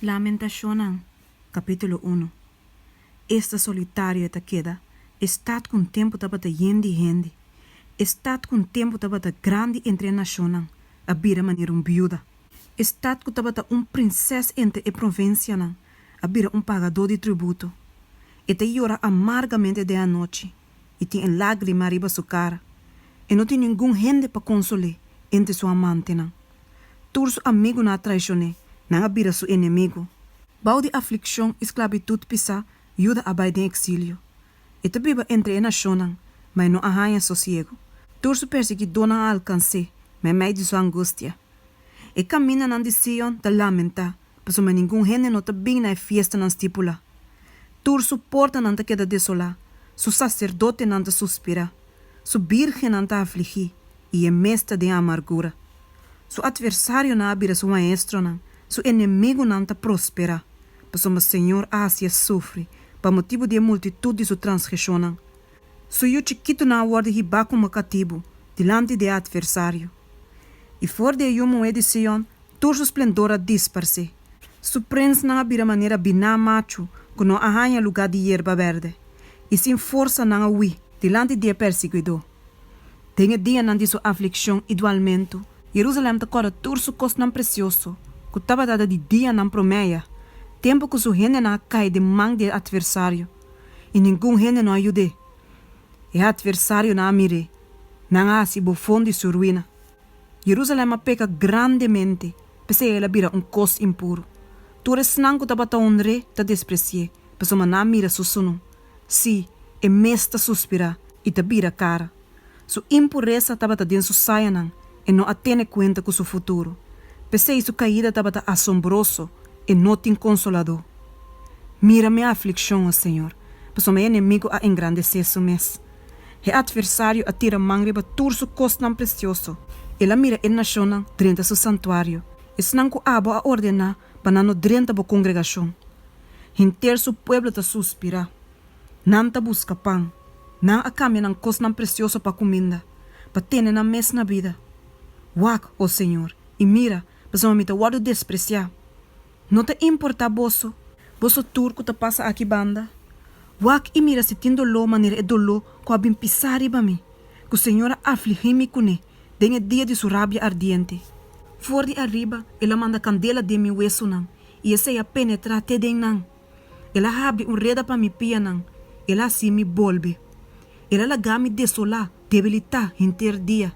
Lamentacionnan, capítulo uno Esta solitario e ta keda, e stad cu un tempu tabata yen di hende, e stad cu un tempu tabata grandi entre e nacionnan, a bira manera un biuda, e stad cu tabata un prinses entre e provincianan, a bira un pagador di tributo. E ta yora amargamente den anochi, i tin e lágrima riba su kara. E no tin ningun hende pa konsol'é entre su amantenan. Tur su amigunan a traishon'é, nan a bira su enemigu. Bou di aflikshon i sklabitut pisá, Yuda a bai den eksilio. E ta biba entre e nashonnan, ma e no a haña sosiegu. Tur su persigidónan a alkans'é, mei mei di su angustia. E kaminanan di Sion ta lamentá, pasobra ningun hende no ta bin na e fiestanan stipulá. Tur su portanan ta keda desolá, su saserdotenan ta suspirá, su bírgennan ta afligí, i e mes ta den amargura. Su atversarionan a bira su maestronan, su enemigunan ta prosperá, pasobra Señor a hasié sufri pa motibu di e multitut di su transgresionnan. Su yu chikitunan a wòrdu hibá kuma katibu dilanti di e atversario, i for di e yu muhé di Sion tur su splendor a disparsé. Su prensnan a bira manera biná machu ku no a haña lugá di yerba bèrdè, i sin forsa nan a hui dilanti di e persiguidó. Den e dianan di su aflikshon i dualmentu, Jerusalèm ta kòrda tur su kosnan presioso ku tabata da di dianan promèya, tempu ku su hendenan a kai den man di e atversario. i ningun hende no a yud'é. E atversarionan a mir'é, nan a hasi bofon di su ruina. Jerusalèm a peka grandemente, p'esei el a bira un kos impuru. Tur esnan ku tabata onr'é ta despresi'é, pasobra nan a mira su sunú, sí, e mes ta suspirá i ta bira kara, Su impuresa tabata den su sayanan, e no a tene kuenta ku su futuro. P'esei su kaida tabata asombroso, e no tin konsoladó. Mira mi aflikshon, o Señor, pasobra mi enemigu a engrandesé su mes. E atversario a tira man riba tur su kosnan presioso, el a mira e nashonnan drenta su santuario, esnan ku abo a ordená pa nan no drenta bo kongregashon. Henter su pueblo ta suspirá. Nan ta buska pan. Nan a kambia nan kosnan presioso pa kuminda, pa tene nan mes na bida. Wak, o señor, i mira, pasobra mi ta wòrdu despresiá. No ta importá boso? Boso tur ku ta pasa aki banda, wak i mira si tin doló manera e doló ku a bin pisá riba mi, ku señor a afligí mi kuné den e dia di su rabia ardiente. For di ariba el a manda kandela den mi wesunan, i esei a penetrá te den nan. El a habri un reda pa mi pianan, el a haci mi bolbe. El a laga mi desolá, debilitá henter dia.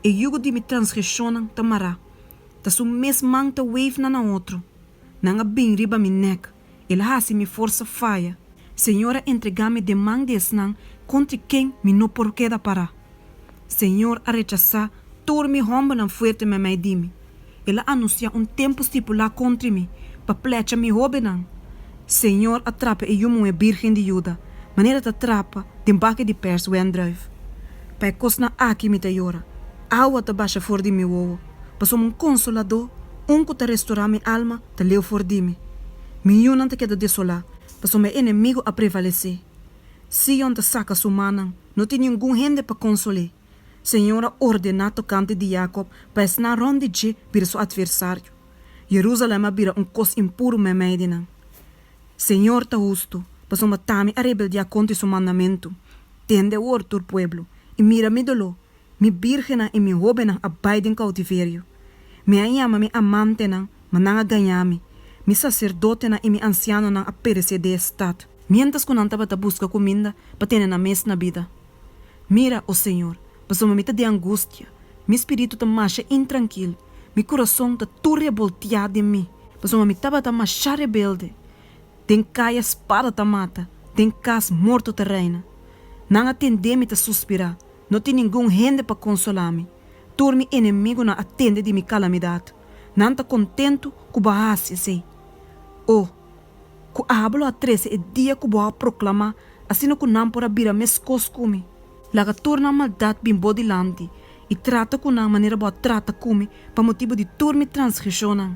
E yugo di mi transgresionnan ta mará, ta su mes man ta weef na na otro. Nan a bin riba mi nèk, el a haci mi forsa faya. Señor a entregá mi den man di esnan contri ken mi no por keda pará. Señor a rechasá tur mi hòmbernan fuerte meimei di mi. El a anunsiá un tempu stipulá kontri mi, pa plecha mi hóbennan. Señor a trapa e yu muhé bírgen di Juda, manera ta trapa den baki di pèrs wèndrùif. Pa e kosnan aki mi ta yora, awa ta basha for di mi wowo, pasobra un konsoladó, un ku ta restorá mi alma, ta leu for di mi. Mi yunan ta keda desolá, pasobra mi enemigu a prevalesé. Sion ta saka su mannan. No tin ningun hende pa konsol'é. Señor a ordená tokante di Jakob pa esnan rònt di dje bira su atversario. Jerusalèm a bira un kos impuru meimei di nan. Señor ta hustu, pasobra tami a rebeldiá kontra e su mandamentu. Tende awor, tur pueblo, i mira mi doló, Mi bírgennan i mi hóbennan a bai den koutiverio. Mi a yama mi amantenan, ma nan a gañá mi. Mi saserdotenan i mi ansianonan a peresé den e stat. Miéntras ku nan tabata buska kuminda pa tene nan mes na bida. Mira, o señor, pasobra mi ta den angustia, mi spiritu ta masha intrankil, mi kurason ta tur reboltiá den mi, pasobra mi tabata masha rebelde. Den kaya spada ta mata, den kas morto ta reina. Nan a tendé mi ta suspirá, No tin ningun hende pa konsolá mi. Tur mi enemigunan a tende di mi kalamidat. Nan ta kontentu ku bo a hasi esei. O, ku abo lo a trese e dia ku bo a proklamá, asina ku nan por a bira meskos ku mi! Laga tur nan maldat bin bo dilanti, i trata ku nan manera bo a trata ku mi, pa motibu di tur mi transgreshonnan.